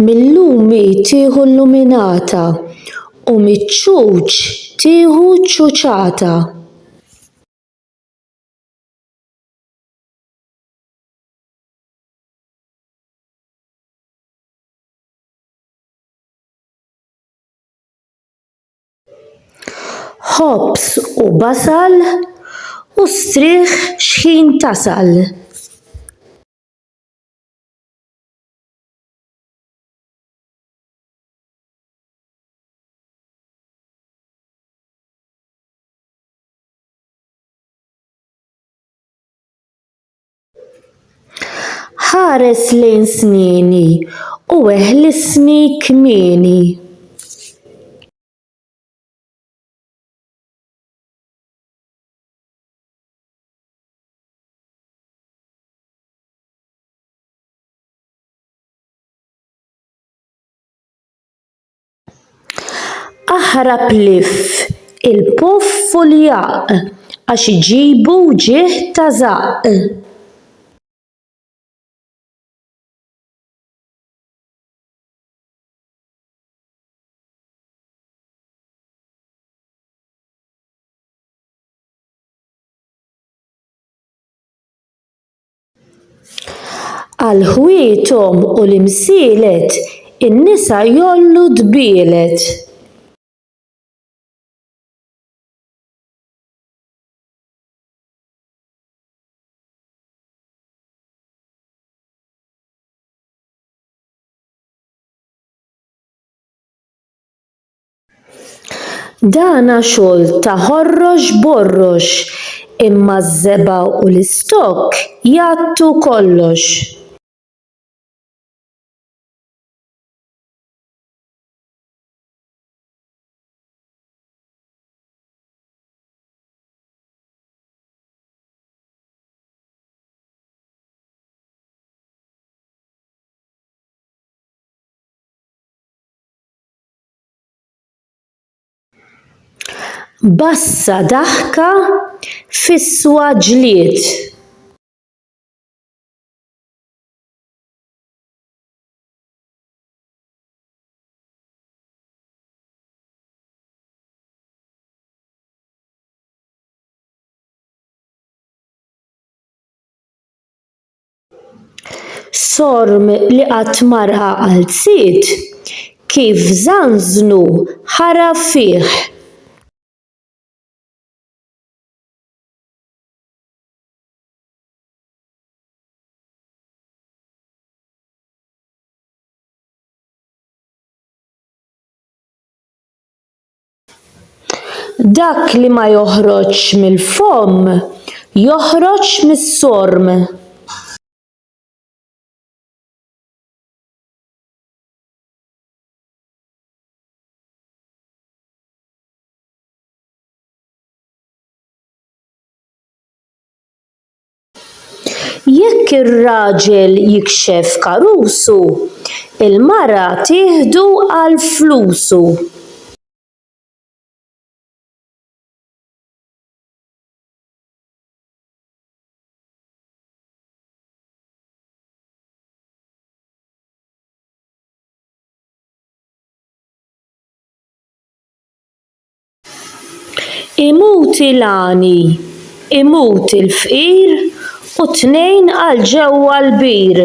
Mil-lum hi tieħu l-luminata, u miċ-ċuċ tieħu ċ-ċuċata. Ħobż u basal, u strieħ xħin tasal. Ħares lejn snieni u eħlisni kmieni. Aħrab lif il-puff u l-jaqq għax iġibu wġigħ ta' żaqq. Għal ħwietom u l-imsielet in-nisa jgħollu dbielet. Dana xogħol ta' ħorrox borrox imma ż-żebgħa u l-istokk jgħattu kollox. Bassa daħka f'iswa ġlied. Sorm li qatt ma ra għal sid, kif żanżnu ħara fih. Dak li ma joħroġx mill-fomm joħroġ mis-sorm. Jekk ir-raġel jikxef karusu, il-mara tieħdu għal flusu. Imut il-għani, imut il-fqir u t-tnejn għal ġewwa l-bir.